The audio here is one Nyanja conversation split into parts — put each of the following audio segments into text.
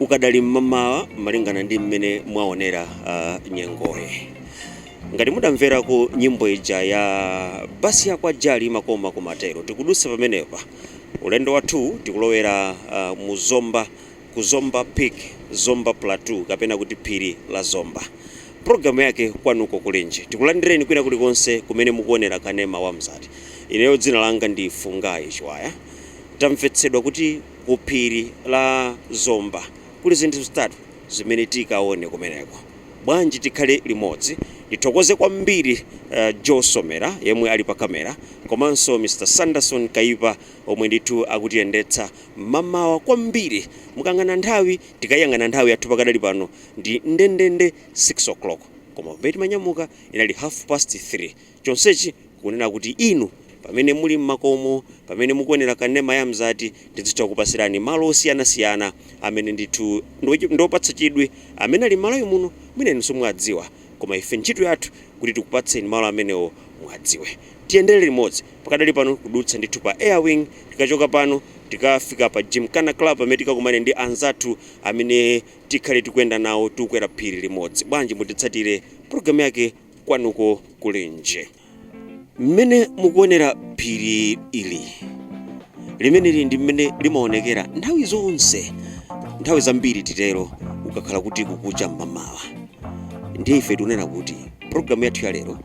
ukadali mmamawa malingana ndi mmene mwaonera uh, nyengoyi ngati mudamverako nyimbo ija ya basi yakwa jali makomakoma tero tikudutsa pamenepa ulendo wathu tikulowera uh, mu zomba ku zomba peak zomba plateau kapena kuti phiri la zomba programu yake kwanuko kulinji tikulandireni kwina kulikonse kumene mukuonera kanema wa mzati ineyo dzina langa ndi Fungai Chiwaya tamvetsedwa kuti ku phiri la Zomba. Kuli zinthu zitatu zimene tikaone kumeneko. Bwanji tikhale limodzi. Ndithokoze kwambiri Joe Somera yemwe ali pa camera komanso Mr Sanderson Kaipa omwe ndithu akutiyendetsa. Mmamawa kwambiri mukayang'ana nthawi, tikaiyang'ana nthawi yathu pakadali pano ndi ndendende 6:00. Koma pamene timanyamuka inali half past 3. Chonsechi kunena kuti inu pamene muli m'makomo, pamene mukuonera kanema ya mzati, tidzitha kukupatsirani malo osiyanasiyana amene ndithu ndi opatsa chidwi amene ali m'Malawi muno, mwina inu simuwadziwa koma ife ntchito yathu kuti tikupatseni malo amenewo muwadziwe. Tiyendere limodzi pakadali pano kudutsa ndithu pa Air Wing, tikachoka pano tikafika pa Gymkhana Club pamene tikakumane ndi anzathu amene tikhale tikuyenda nawo tikukwera phiri limodzi. Bwanji mutitsatire, program yake. kwanuko kulinji mmene mukuonera phiri ili limeneli ndi mmene limaonekera nthawi zonse nthawi zambiri titero ukakhala kuti kukucha mmamawa ndiye ife tikunena kuti programu yathu ya lero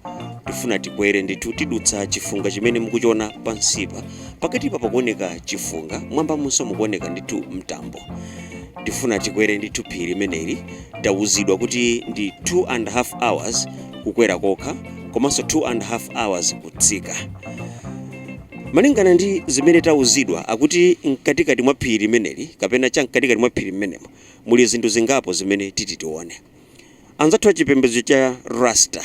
tifuna tikwere ndithu tidutsa chifunga chimene mukuchiona pansipa pakatipa pakuoneka chifunga mmwambamunso mukuoneka ndithu mtambo tifuna tikwere ndithu phiri limeneli tawuzidwa kuti ndi 2 and half hours kukwera kokha komanso 2 and half hours kutsika malingana ndi zimene tawuzidwa akuti mkatikati mwa phiri limeneli kapena cha mkatikati mwa phiri limenemo muli zinthu zingapo zimene titi tione anzathu achipembedzo cha rasta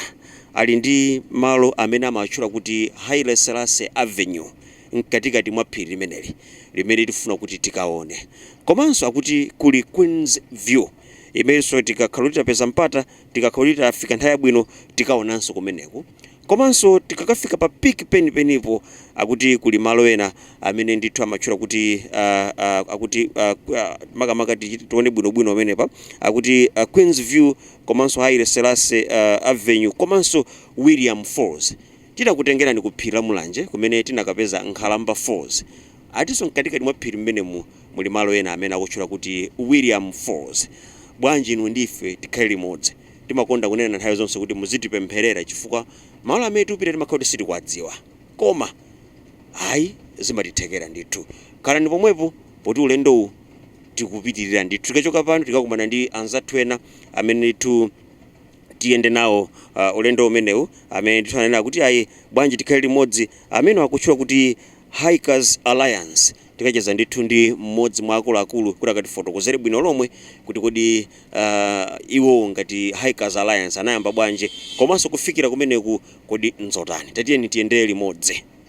ali ndi malo amene amawatchula kuti haile selassie avenue mkatikati mwa phiri limeneli limene tifuna kuti tikaone. Komanso akuti kuli Queens View imenso tikakhala kuti tapeza mpata, tikakhala kuti tafika nthawi yabwino tikaonanso kumeneko. Komanso tikakafika pa peak penipenipo akuti kuli malo ena amene ndithu amatchula kuti ah, ah, akuti ah, ku- ah, makamaka tichite tione bwinobwino pamenepa akuti ah, Queens View komanso Haile Selassie ah, Avenue komanso William Falls. Tinakutengerani ku phiri la Mulanje kumene tinakapeza Nkhalamba Falls. Akutinso mkatikati mwa phiri mmenemu muli malo ena amene akutchula kuti William Falls. Bwanji inu ndi ife tikhale limodzi? Timakonda kunena nthawi zonse kuti muzitipempherera chifukwa malo amene tikupita timakhala kuti sitikuwadziwa. Koma, ayi, zimatithekera ndithu. Khalani pomwepo poti ulendowu tikupitirira ndithu. Tikachoka pano tikakumana ndi anzathu ena amene ndithu. tiyende nawo uh, ulendo umenewu amene ndithu anena kuti ayi bwanji tikhale limodzi amene akutchula kuti Hikers Alliance tikacheza ndithu ndi mmodzi mwa akuluakulu kuti akatifotokozere bwino lomwe kuti kodi uh, iwo ngati Hikers Alliance anayamba bwanji komanso kufikira kumeneku kodi nzotani tatiyeni tiyendere limodzi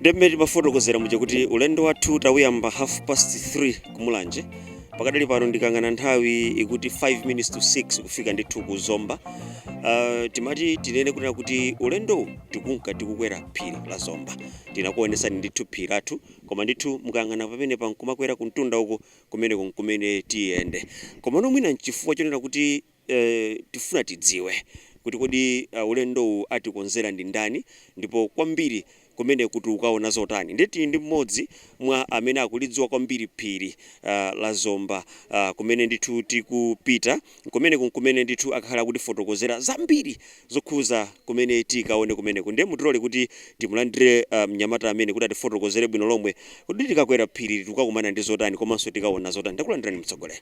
ndi mmene timafotokozera muja kuti ulendo wathu tawuyamba half past 3 ku Mulanje pakadali pano ndikayang'ana nthawi ikuti 5 minutes to 6 kufika ndithu ku zomba uh, timati tinene kunena kuti ulendowu tikunka tikukwera phiri la zomba tinakuonesani ndithu phiri lathu koma ndithu mukayang'ana pamene pankumakwera kumtunda uko kumeneko nkumene tiyende komano mwina nchifukwa chonena kuti Eee tifuna tidziwe kuti kodi ulendowu atikonzera ndi ndani ndipo kwambiri kumeneku tikukaona zotani ndiye tili ndi mmodzi mwa amene akulidziwa kwambiri phiri la Zomba kumene ndithu tikupita kumeneku amene ndithu akakhale akutifotokozera zambiri zokhuza kumene tikaone kumeneku ndiye mutilole kuti timulandire mnyamata ameneyu kuti atifotokozere bwino lomwe kuti tikakwera phirili tikukakumana ndi zotani komanso tikaona zotani takulandirani mtsogoleri.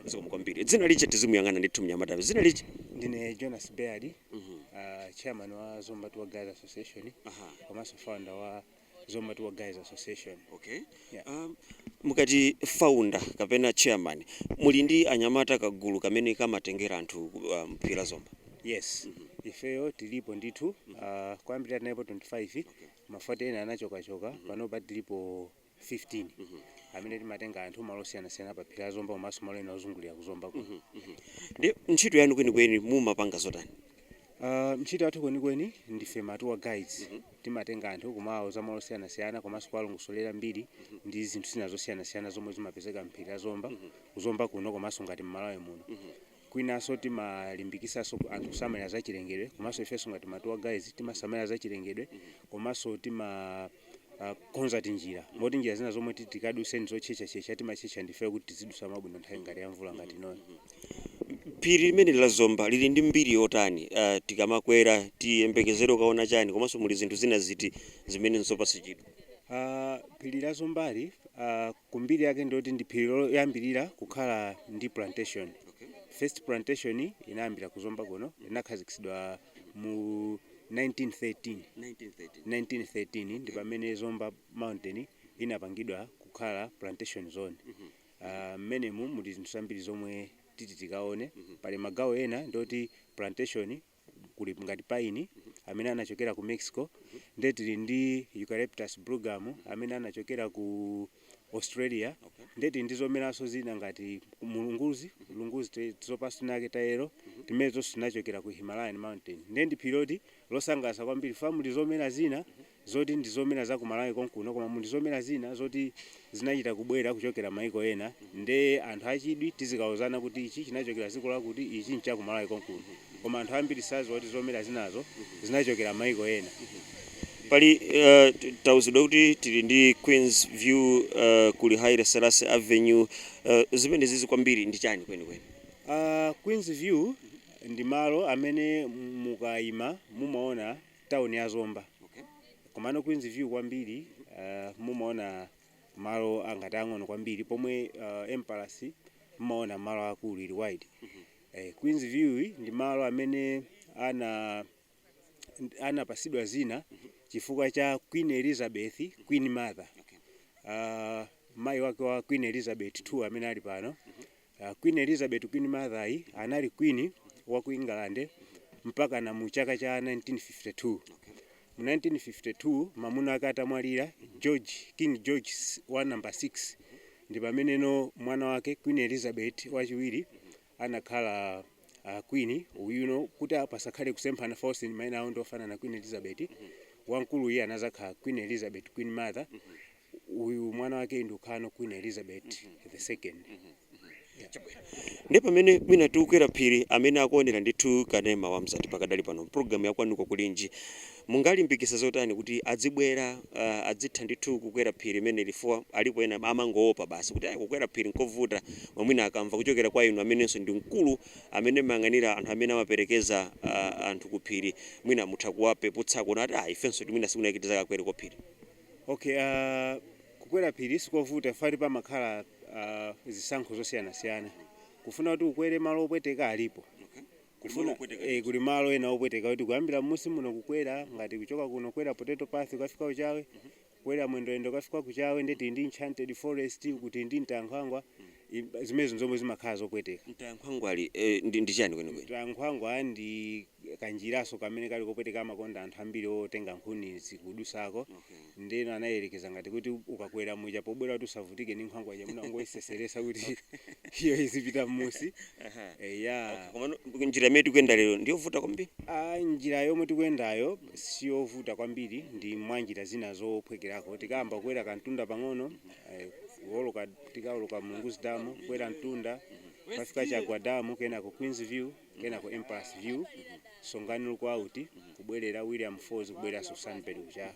Zikomo kwambiri. Dzina lija tizimuyang'ana ndithu mnyamatayo. Dzina lija? Ndine Jonas Baird, uh, chairman wa Zomba Tour Guides Association Aha. komanso founder wa Zomba Tour Guides Association. Okay. Yeah. Um, mukati founder kapena chairman muli ndi anyamata kagulu kamene kamatengera anthu um, phiri la Zomba. Yes. Ifeyo tilipo ndithu uh, kwambiri tinalipo 25 koma poti ena anachokachoka panopa tilipo 15 amene timatenga anthu malo osiyanasiyana pa phiri la zomba komanso malo ena ozungulira ku zomba kuno Ndi ntchito yanu kwenikweni mumapanga zotani? Ah, ntchito yathu kwenikweni ndife ma tour guides timatenga anthu kumawauza malo osiyanasiyana komanso kuwalongosolera mbiri ndi zinthu zina zosiyanasiyana zomwe zimapezeka mphiri la zomba ku zomba kuno komanso ngati mmalawi muno Kwinaso timalimbikisaso anthu kusamalira zachilengedwe komaso ifeso ngati ma tour guides timasamalira zachilengedwe komaso timakonza tinjira moti njira zina zomwe titi tikaduse ndizotchetchatchetcha timatchetcha ndifeyo kuti tizidusa mwabwino nthawi ngati ya mvula ngati inoyo. Phiri limeneli la Zomba lili ndi mbiri yotani? Tikamakwera tiyembekezere kukaona chani komaso muli zinthu zina ziti zimene nzopatsa chidwi? A, Phiri la Zombali, a, ku mbiri yake ndi loti ndi phiri loyambirira kukhala ndi plantation. First plantation inayambira ku Zomba kuno, inakhazikitsidwa mu 1913. 1913. 1913 ndi pamene Zomba Mountain inapangidwa kukhala plantation zone. Ah, Mmenemu muli zinthu zambiri zomwe titi tikaone. Pali magawo ena ndi oti plantation kuli ngati paini amene anachokera ku Mexico nde tili ndi Eucalyptus bluegum amene anachokera ku Australia nde tili ndi zomeranso zina ngati mulunguzi lunguzi tizipatso tinatake tayelo timene tonse tinachokera ku Himalayan mountain nde ndi phiri loti losangalatsa kwambiri fa muli zomera zina zoti ndi zomera za ku Malawi konkuno koma muli zomera zina zoti zinachita kubwera kuchokera maiko ena nde anthu achidwi tidzikauzana kuti ichi chinachokera dziko lakuti ichi ncha ku Malawi konkuno koma anthu ambiri sadziwa kuti zomera zinazo zinachokera maiko ena Pali uh, t- tauzidwa kuti tili ndi Queens View uh, kuli Haile Selassie Avenue uh, zimenezizi kwambiri ndi chani kwenikweni? Uh, Queens View ndi malo amene mukayima mumaona town ya zomba komano queens view kwambiri uh, mumaona malo angati ang'ono kwambiri pomwe uh, emperor's mumaona malo akulu ili wide eh, queens view yi ndi malo amene ana anapatsidwa dzina chifukwa cha queen elizabeth queen mother uh, mayi wake wa queen elizabeth 2 amene ali pano Uh, Queen Elizabeth Queen Mother yi anali queen wa ku England mpakana mu chaka cha 1952. Mu 1952 mamuna ake atamwalira George King George s- wa number 6 ndi pameneno mwana wake Queen Elizabeth wachiwiri anakhala uh, queen uyuno kuti pasakhale kusemphana fa maina awo ndi ofanana Queen Elizabeth wamkulu iye anadzakhala Queen Elizabeth Queen Mother uyu mwana wake nkukhalano queen elizabeth the second ndi pamene mwina tikukwera phiri amene akuonera ndithu kanema wa mzati pakadali pano mpulogalamu yakwanuko kulinji mungawalimbikitse zotani kuti adzibwera uh, adzitha ndithu kukwera phiri limeneli fa alipo ena amangoopa basi kuti ayi kukwera phiri nkovuta mwina akamva kuchokera kwa inu amenenso ndi mkulu amene mumayang'anira anthu amene amaperekeza uh, anthu ku phiri mwina mutha kuwapeputsako kuti ah ifenso mwina sikunakitiza kukwera kwa phiri Okay, uh, kukwera phiri sikovuta fa pamakhala uh, zisankho zosiyanasiyana kufuna kuti ukwere malo opweteka alipo kufuna eh, kuli malo ena opweteka kuti kuyambira mmusi muno kukwera ngati kuchoka kuno kwera potato path ukafika kuchawe kwera mwendoyendo ukafika kuchawe nde tili ndi enchanted forest kuli ndi mtankhwangwa I- zimenezo nzomwe zimakhala zopweteka mtankhwangwali eh, ndi, ndi chani kwenikweni mtankhwangwa ndi kanjiraso kamene kali kopweteka amakonda anthu ambiri otenga nkhunizi kudutsako ndeno anayelekeza ngati kuti ukakwera muja pobwera kuti usavutike ndi nkhwangwa ija mwina ungoyitsetseretsa kuti iyo izipita mmunsi Aha. eya Okay, komano njira imene tikuyenda lero ndiyovuta kwambiri Ah, njira yomwe tikuyendayo siyovuta kwambiri ndi mwa njira zina zophwekerako tikayamba kukwera kamtunda pang'ono eh, kuoloka tikaoloka mulunguzi damu kukwera mtunda kukafika chagwa damu kenako queens view kenako Emperor's View, Songani Lookout, kubwerera William Falls kubwereranso Sunbird Ku Chawe.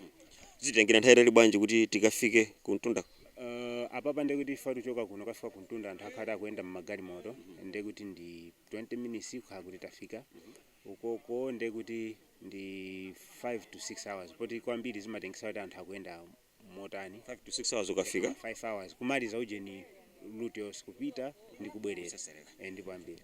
Zititengera nthawi yaitali bwanji kuti tikafike kumtundaku? Uh, apapa ndiye kuti ife tikuchoka kuno kukafika kumtunda anthu akhala akuyenda mmagalimoto ndiye kuti ndi 20 minutes kukhala kuti tafika ukoko ndiye kuti ndi 5 to 6 hours poti kwambiri zimatengera kuti anthu akuyenda motani 5 to 6 hours ukafika 5 hours kumaliza ujeni route yonse kupita ndi kubwerera Eh, ndipo ambiri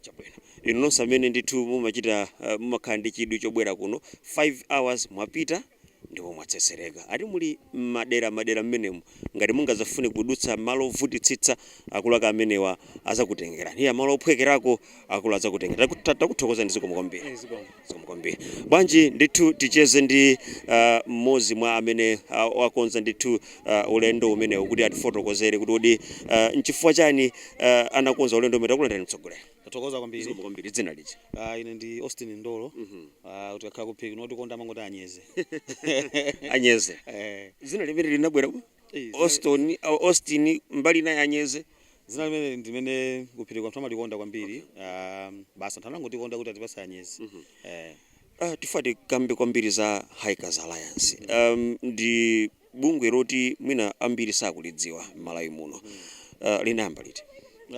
inu nonse amene ndithu mumachita uh, mumakhala ndi chidwi chobwera kuno 5 hours mwapita ndipo mwatsetsereka ati muli madera madera mmenemu ngati simungazafune kudutsa malo ovutitsitsa akuluakulu amenewa azakutengerani eya malo ophwekerako akulu adzakutenga Taku- ta- takuthokozani zikomo kwambiri Eh, zikomo. zikomo kwambiri bwanji ndithu ticheze ndi ah, mmodzi mwa amene ah, wakonza ndithu ah, ulendo umenewu kuti atifotokozere kuti kodi ah, nchifukwa chani ah, anakonza ulendo umenewu takulandirani mtsogoleri tathokoza kwambiri zikomo kwambiri dzina lija Ah, ine ndi austin ndolo Ah, kuti akakhala kuphiri otikonda amangoti anyeze anyeze Eh, dzina limene linabwera Austin, ah Austin mbali ina ya Anyeze. Dzina limeneli ndi limene kuphiriko anthu amalikonda kwambiri. Ah, Basi anthu anangotikonda kuti atipatse Anyeze. Eh. Ah, tifuna tikambe kwambiri za Hikers Alliance. Um, ndi bungwe loti mwina ambiri sakulidziwa m'Malawi muno. Ah, linayamba liti?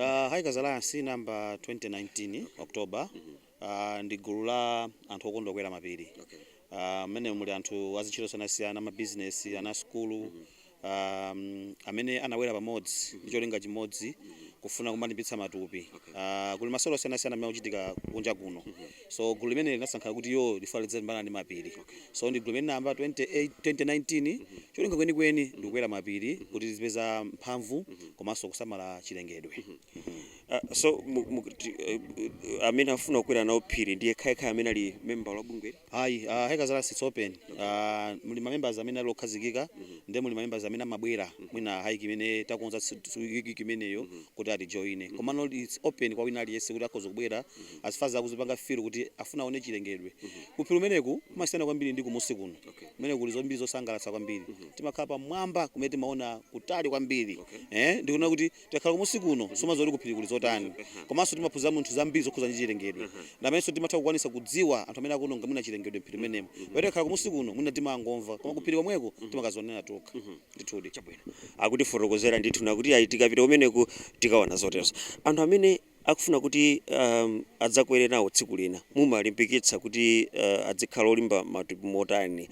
Ah, Hikers Alliance inayamba 2019 October. Uh, ndi gulu la anthu okonda kukwera mapiri mmene uh, muli anthu azintchito zosiyanasiyana mabizinesi ana asukulu um, amene anabwera pamodzi ndi cholinga chimodzi kufuna kumalimbitsa matupi uh, kuli masewero osiyanasiyana amene akuchitika kunja kuno so gulu limeneli linasankha kuti ilo lifuna lizilimbana ndi mapiri so ndi gulu limene linayamba 28 2019 cholinga chenicheni ndikukwera mapiri kuti tizipeza mphamvu komanso kusamala chilengedwe Ah, so mu- mu- ti- eh, eh, amene afuna kukwera nawo phiri ndi yekhayekhaye amene ali member wa bungwe ayi uh, hikers alliance it's open uh, muli mamembers amene ali okhazikika ndi muli mamembers amene amabwera mwina hike imene takonza tsi- tsi- wiki imeneyo kuti atijoine komano it's open kwa wina aliyense kuti akhoza kubwera as far as akuzipanga feel kuti afuna aone chilengedwe kuphiri umeneku kumasiyana kwambiri ndi kumunsi kuno Okay. kumene kuli zambiri zosangalatsa kwambiri timakhala pamwamba kumene timaona kutali kwambiri eh ndikuona kuti tikakhala kumusi kuno sumadziwa kuti kuphiri kuli zotani komanso timaphunzira munthu zambiri zokhuza ndi chilengedwe namenso timatha kukwanisa kudziwa anthu amene akuononga mwina chilengedwe mphiri menemo pamene tikakhala kumusi kuno mwina timangomva koma kuphiri komweko timakazionera tokha ndithudi akutifotokozera ndithu nakuti ayi tikapita kumeneku tikaona zoterozo anthu amene akufuna kuti adzakwere nawo tsiku lina. Mumawalimbikitsa kuti adzikhala olimba matupi motani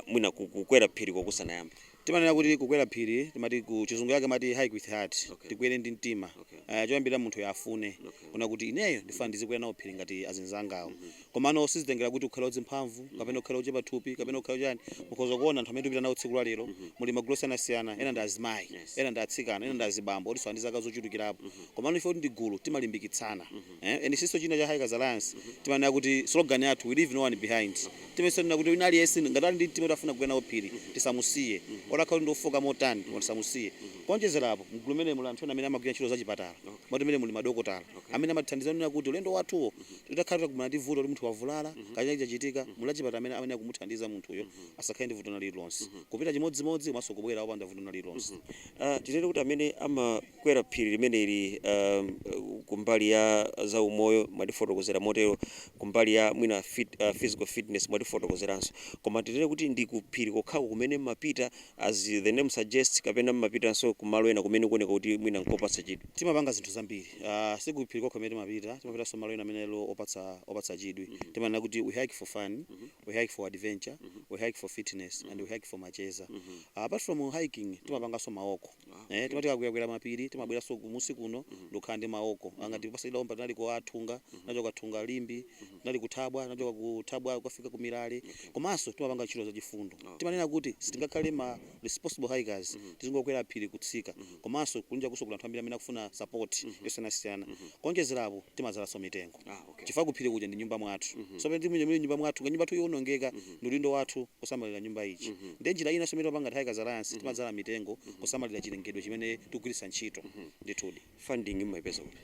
mwina kukwera phiriko kusanayambe? Timanena kuti kukwera phiri timati kuchizungu chake amati hike with heart, tikwere ndi mtima. Choyambirira munthuyo afune, kunena kuti ineyo ndifuna ndizikwera nawo phiri ngati azinzangawo. Komano sizitengera kuti ukhale wadzimphamvu kapena ukhale ochepa thupi kapena ukhale chani. Mukhoza kuona anthu amene tikupita nawo tsiku la lero muli magulu osiyanasiyana ena ndi azimayi, ena ndi atsikana, ena ndi azibambo otinso ali ndi zaka zochulukirapo. Komano chifukwa kuti ndi gulu timalimbikitsana. Eh and sinso china cha Hikers Alliance timanena kuti slogan yathu we leave no one behind. Timayesetsa kunena kuti wina aliyense ngati ali ndi mtima oti afuna kukwera nawo phiri tisamusiye. Olo akhale kuti ndi ofooka motani koma tisamusiye. Kuonjezera apo mgulu limeneli muli anthu ena amene amagwira ntchito zachipatala. Moti meneli muli madokotala amene amatithandiza kunena kuti ulendo wathuwo Titakhala titakumana ndi vuto loti munthu wavulala kaya china chake chachitika, muli achipatala amene amayenera kumuthandiza munthuyo asakhale ndi vuto lina lililonse. Kupita chimodzimodzi komanso kubwera opanda vuto lina lililonse. Tinene kuti amene amakwera phiri limeneli kumbali ya zaumoyo mwatifotokozera motero, kumbali ya mwina physical fitness mwatifotokozeranso. Koma tinene kuti ndi kuphiri kokhako kumene mumapita? as the name suggests kapena mmapitanso ku malo ena kumene kuoneka kuti mwina nkopatsa chidwi? Timapanga zinthu zambiri uh, si kuphiri kokha kumene timapita, timapitanso malo ena amene ali opatsa, opatsa chidwi mm -hmm. timanena kuti we hike for fun mm -hmm. we hike for adventure mm -hmm. we hike for fitness mm -hmm. and we hike for macheza mm -hmm. uh, apart from hiking timapanganso ma walk eh timati tikakwerakwera mapiri timabweranso kumusi kuno ndikukhala ndi ma walk ah ngati pasakidwa omba tinali kwa thunga tinachoka thunga limbe tinali kuthabwa tinachoka kuthabwa kukafika ku mirale komanso timapanga ntchito za chifundo timanena kuti sitingakhale ma responsible hikers tizingokwera phiri kutsika komanso kunjakunso kuli anthu ambiri amene akufuna support yosiyanasiyana kuonjezerapo timadzalanso mitengo chifukwa kuphiri kuja ndi nyumba mwathu so pamene tili muli nyumba mwathu ngati nyumba yathu iwonongeka ndi udindo wathu kusamalira nyumba ija ndiye njira inanso imene timapanga ngati Hikers Alliance timadzala mitengo kusamalira chilengedwe chimene tikugwiritsa ntchito ndithudi funding mumaipeza kuti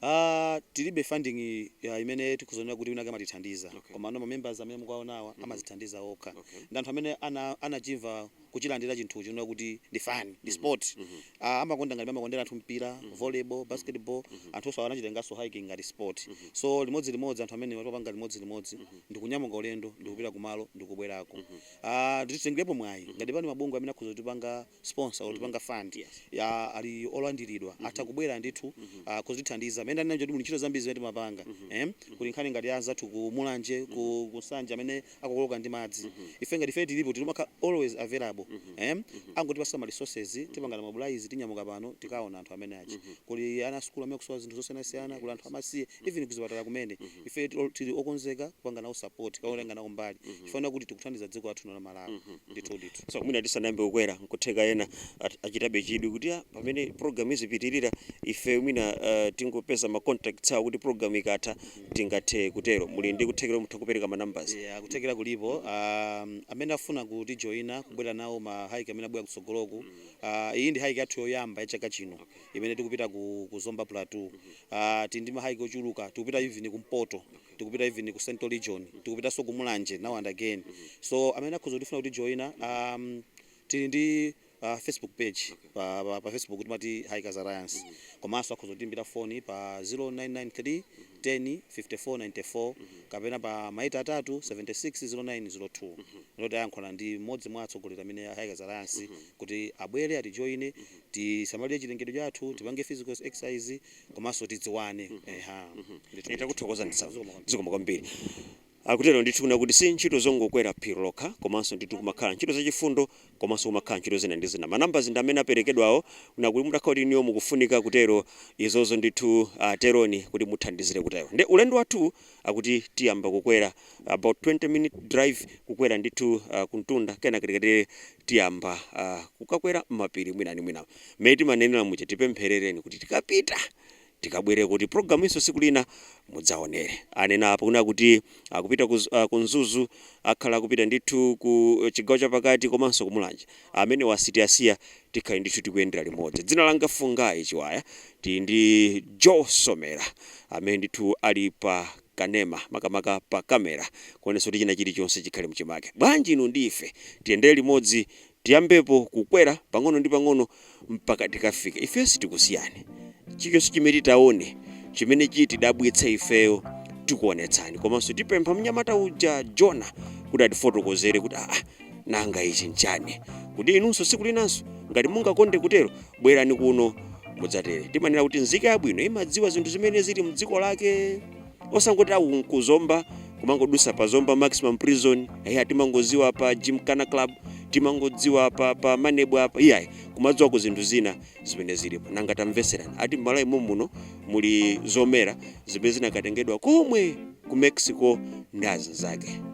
Ah, tilibe funding ya imene tikhoza kunena kuti winawake amatithandiza Okay. komano ma members amene mukuwaonawa amazithandiza okha Okay. ndi anthu amene ana- anachimva kuchilandira chinthucho chonena kuti ndi fun ndi sport Ah, amakonda ngati amakondera anthu mpira volleyball basketball anthuwanso anachitenganso hiking ngati sport so limodzi limodzi anthu amene amapanga limodzi limodzi ndikunyamuka ulendo ndikupita kumalo ndikubwerako Ah, titengerepo mwayi ngati pali mabungwe amene akhoza kutipanga sponsor kutipanga fund Yes. ya ali olandiridwa atha kubwera ndithu ah, kuzatithandiza mmene ndanena kuti muli ntchito zambiri zimene timapanga eh, kuli nkhani ngati ya anzathu ku mulanje ku kusanja amene akukokoloka ndi madzi ife ngati ife tilipo timakhala always available em angotipasa ma resources tipanga mobilize tinyamuka pano tikaona anthu amene aja kuli ana a sukulu amene akusowa zinthu zosiyanasiyana kuli anthu amasiye even kuzipatala kumene ife tilo- tili okonzeka kupanga nawo support kapena kutenga nawo mbali chifukwa kuti tikuthandiza dziko lathu lino la malawi ndithu ndithu so mwina tisanayambe kukwera nkutheka ena at- achitabe chidwi kuti "Ah, pamene program izipitirira ife mwina uh, tingopeza ma contacts awo kuti program ikatha tingathe kutero. Muli ndi kuthekera kuti mutha kupereka ma numbers? Eya kuthekera kulipo, amene afuna kutijoina kubwera nawo ma hike amene abwera kutsogoloku, iyi ndi hike yathu yoyamba ya chaka chino imene tikupita ku ku Zomba Plateau, tili ndi ma hike ochuluka tikupita even kumpoto, tikupita even ku central region, tikupitanso ku Mulanje now and again, so amene akhoza kufuna kutijoina tili ndi. pa Facebook page pa pa, pa Facebook timati Hikers Alliance komanso akhoza kutiimbira foni pa 0993 10 5494 kapena pa maita atatu 76 0902 ndoti ayankhulana ndi mmodzi mwa atsogoleri amene a Hikers Alliance kuti abwere atijoine tisamalire chilengedwe chathu tipange physical exercise komanso tidziwane eha Ndithu, ndithu. Takuthokozani sana. Zikomo kwambiri. Zikomo kwambiri. Akutero ndithu kunena kuti si ntchito zongokwera phiri lokha komanso ndithu kumakhala ntchito za chifundo komanso kumakhala ntchito zina ndi zina. Ma numbers ndi amene aperekedwawo kunena kuti mutakhala kuti inuyo mukufunika kutero izozo ndithu ah, teroni kuti muthandizile kutero. Nde ulendo wathuwu akuti tiyamba kukwera about 20 minute drive kukwera ndithu ah, kumtunda kenaka tikatero tiyamba ah, kukakwera m'mapiri mwina ndi mwina. Mmene timanenera muja tipempherereni kuti tikapita tikabwere kuti program ino siku lina mudzaonere anena apa kunena kuti akupita ku, uh, ku mzuzu akhala akupita ndithu ku chigawo chapakati komanso kumulanje amene musatisiye tikhale ndithu tikuyendera limodzi dzina langa fungayi chiwaya tili ndi joe somera amene ndithu ali pa kanema makamaka pa kamera kuonetsa kuti china chilichonse chikhale mchimake bwanji inu ndi ife tiyendere limodzi Tiyambepo kukwera pang'ono ndi pang'ono mpaka tikafike. Ifeyo sitikusiyani. Chilichonse chimene titaone chimene chitidabwitse ifeyo tikuonetsani. Komanso tipempha mnyamata uja, Jona, kuti atifotokozere kuti aa nanga ichi n'chani. Kuti inunso tsiku linanso ngati mungakonde kutero bwerani kuno mudzatere. Timanena kuti nzika yabwino imadziwa zinthu zimene zili m'dziko lake. osangoti awu kuzomba kumangodusa pa zomba maximum prison eya timangoziwa pa gymkhana club timangodziwa pa, pa manebo apa iyayi kumadziwako zinthu zina zimene zilipo nanga tamveserani ati mmalawi mumuno muli zomera zimene zinakatengedwa komwe ku mexico ndi azinzake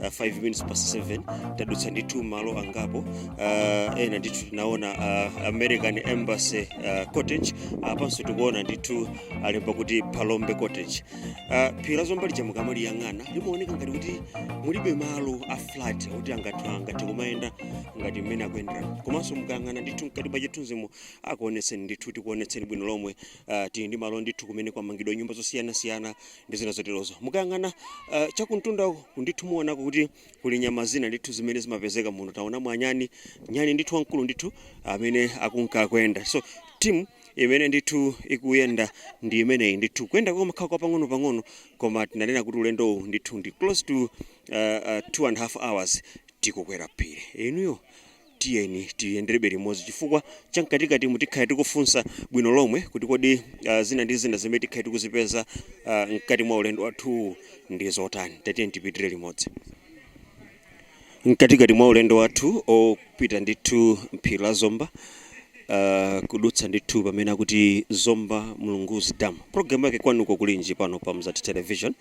uh, 5 minutes past 7 tadutsa ndithu malo angapo uh, ena ndithu tinaona uh, american embassy uh, cottage apanso tikuona ndithu alemba kuti palombe cottage uh, phiri la zomba lija mukamaliyang'ana limaoneka ngati kuti mulibe malo a flat kuti anthu angathe kumayenda ngati mmene akuyendera komanso mukayang'ana ndithu mkati mwa chithunzimo akuonetseni ndithu tikuonetseni bwino lomwe uh, tili ndi malo ndithu kumene kwamangidwa nyumba zosiyanasiyana ndi zina zoterozo. Mukayang'ana uh, chakumtunda uku ndithu muonako kuti kuli nyama zina ndithu zimene zimapezeka muno. Taonamo anyani, nyani ndithu wamkulu ndithu amene akunka kuyenda. So timu imene ndithu ikuyenda ndi imeneyi ndithu kuyenda kumakhala kwa pang'ono pang'ono koma tinanena kuti ulendo uwu ndithu ndi close to uh, uh, two and a half hours tikukwera phiri inuyo Tiyeni tiyenderebe limodzi chifukwa cha mkatikatimu tikhale tikufunsa bwino lomwe kuti kodi ah, zina ndi zina zimene tikhale tikuzipeza ah, mkati mwa ulendo wathuwu ndi zotani. Tatiyeni tipitire limodzi. Mkatikati mwa ulendo wathu opita ndithu mphiri la Zomba uh, kudutsa ndithu pamene akuti Zomba Mulunguzi Dam. Programu yake kwanuko kulinji pano pa Mzati Television.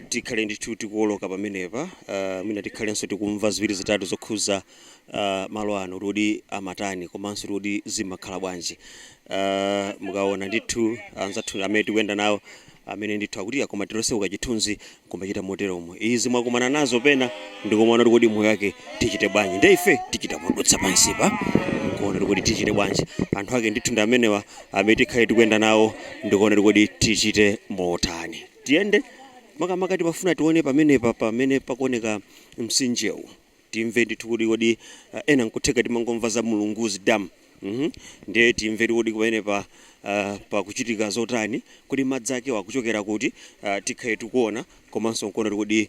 tikhale ndithu tikuwoloka pamenepa uh, mwina tikhalenso tikumva ziwiri zitatu zokhuza uh, malo ano kuti amatani komanso kuti zimakhala bwanji uh, mukaona ndithu anzathu amene tikuyenda nawo amene ndithu akutikoma tilonse uka chithunzi kumachita moteromo izi mwakumana nazo pena ndikumaona kuti kodi moyo wake tichite bwanji nde ife tichita modutsa pansipa kuona kuti tichite bwanji anthu ake ndithu ndi amenewa amene tikhale tikuyenda nawo ndikuona kuti kodi tichite motani Tiyende, makamaka timafuna tione pamenepa pamene pakuoneka mtsinjewu. Timve ndithu kuti kodi ah, ena nkutheka timangomva za Mulunguzi Dam. Mhm. Ndiye timve kuti pamenepa ah, pakuchitika zotani, kodi madzi ake wa akuchokera kuti, ah, tikhale tikuona komanso nkuona kuti kodi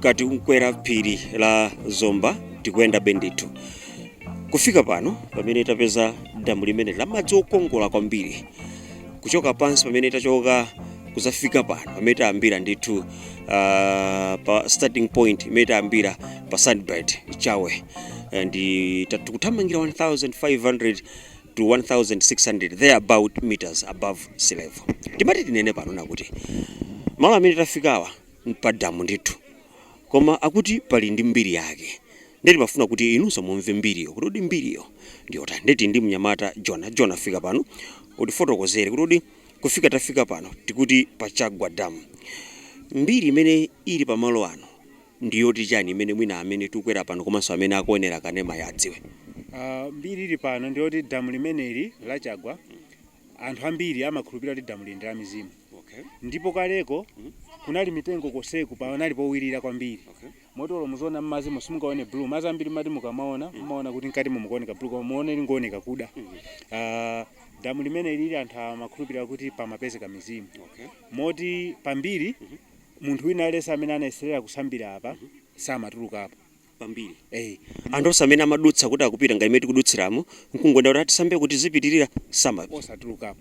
kati mkukwera phiri la zomba tikuyendabe ndithu kufika pano pamene tapeza damu limene la madzi okongola kwambiri kuchoka pansi pamene tachoka kuzafika pano pamene tayambira ndithu uh, pa starting point imene tayambira pa Sunbird Ku Chawe Eh, ndi ta- tikuthamangira 1500 to 1600 there about meters above sea level timati tinene pano nakuti malo amene tafikawa mpadamu ndithu koma akuti pali ndi mbiri yake nde timafuna kuti inunso mumve mbiriyo kuti kodi mbiriyo ndiyotani nde tili ndi mnyamata jona jona fika pano utifotokozere kuti kodi kufika tafika pano tikuti pa chagwa dam mbiri imene ili pamalo ano ndiyoti chani imene mwina amene tikukwera pano komanso amene akuonera kanemayi adziwe Ah, mbiri ili pano ndiyoti damu limeneli la Chagwa anthu ambiri amakhulupirira kuti damu lili ndi la mizimu okay. ndipo kaleko kunali mitengo koseku panali powirira kwambiri Okay. moti olo muziona mmadzi musimukaone blue madzi ambiri amati mukamaona mumaona kuti mkati mukuoneka blue koma muone likungooneka kuda Ah, damu limene lili anthu amakhulupirira kuti pamapezeka mizimu Okay. moti pambiri munthu wina aliyense amene anayeserera kusambira apa samatulukapo kwambiri eh anthu onse amene amadutsa kuti akupita ngati mmene tikudutsiramu nkungoenda kuti ati tisambe kuti tizipitirira sama satulukapo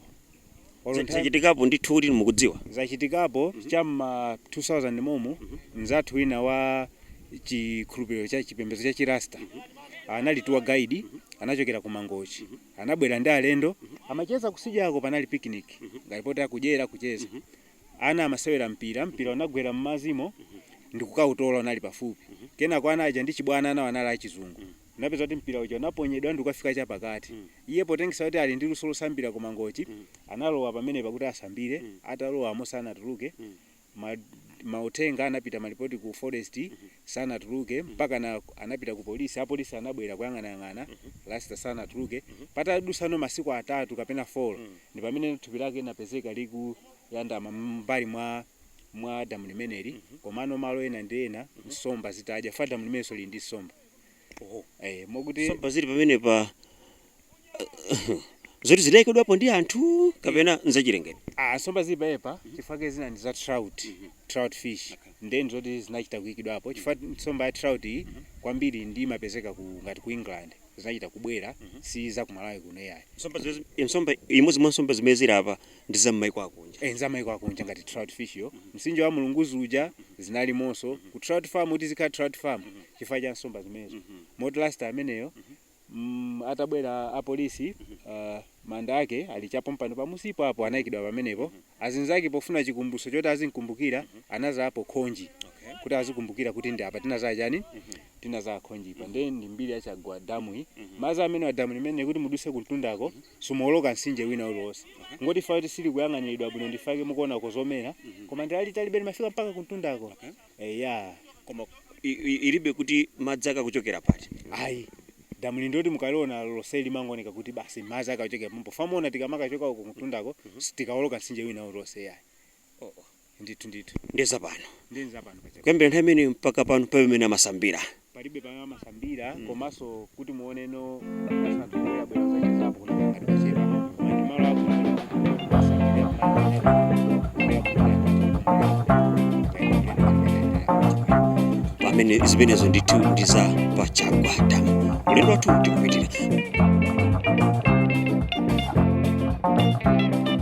Olo Za- nthawi- zachitikapo ndithu kuti mukudziwa zachitikapo cha mma 2000 momo mzathu wina wa chikhulupiriro cha chipembedzo cha chirasta anali tour guide anachokera ku mangochi anabwera ndi alendo amacheza kutsidyako panali picnic ngati poti akudyera kucheza ana amasewera mpira, mpira unagwera mmadzimo ndikukautola unali pafupi kenako ana aja ndi chibwana anawo anali achizungu anapeza kuti mpira uja unaponyedwa ndikukafika chapakati iye potengera kuti ali ndi luso losambira ku mangochi analowa pamenepa kuti asambire atalowa momo sanatuluke ma, mauthenga anapita malipoti ku forest sanatuluke mpaka anapita ku polisi apolisi anabwera kuyang'anayang'ana Rasta sanatuluke patadutsano masiku atatu kapena folo ndipamene thupi lake linapezeka likuyandama mbali mwa damu limeneli komano malo ena ndi ena nsomba zitadya chifukwa damu limenenso lili ndi nsomba Oho. Eh, mokuti nsomba zili pamenepa zoti zidayikedwapo ndi anthu kapena nzachilengedwe ah nsomba zili panopa chifukwa chake zina ndi za trout. Trout fish. Ndiye ndi zoti zinachita kuikidwapo chifukwa nsomba ya trout iyi kwambiri ndi imapezeka ku ngati ku England. Zinachita kubwera si za ku Malawi kuno yayi. nsomba zimene- nsomba imodzi mwa nsomba zimene zili apa ndi za m'maiko akunja. Eh, nza maiko akunja ngati trout fish yo, mtsinje wa Mulunguzi uja zinalimonso ku trout farm kuti izikhala trout farm chifukwa cha nsomba zimenezo. Moti Rasta ameneyo mm, atabwera apolisi uh, manda ake ali chapompano pamunsipo apo anayikidwa pamenepo azinzake pofuna chikumbutso choti azimkumbukira anadzalapo khonje Okay. kuti azikumbukira kuti ndi apa tinadzala chani tinadzala khonjepa nde ndi mbiri ya chagwa damu iyi madzi amenewa damu limeneli kuti mudutse kumtundako Simuwoloka mtsinje wina uliwonse. Kungoti chifukwa kuti silikuyang'aniridwa bwino ndi chifukwa chake mukuonako zomera koma ndi lalitalibe limafika mpaka kumtundako. Eya. Koma i- i- ilibe kuti madzi akuchokera pati. Ayi. Damuli ndiloti mukaliona lonse limangooneka kuti basi madzi akachokera pompo. Chifukwa muona tikamakachoka uko kumtundako sitikawoloka mtsinje wina uliwonse yayi. Oh, oh. ndithu ndithu ndiye zapano ndiye nzapano paja kuyambira nthawi imeneyo mpaka pano palibe amene amasambira palibe pamene amasambira Mm. komanso kuti muone anthu sabwerabwera zachezapo kuti ngati pachepa koma ndi malo akumasambira pamene zimenezo ndithu ndi za pa chagwa damu ulendo wathu tikupitira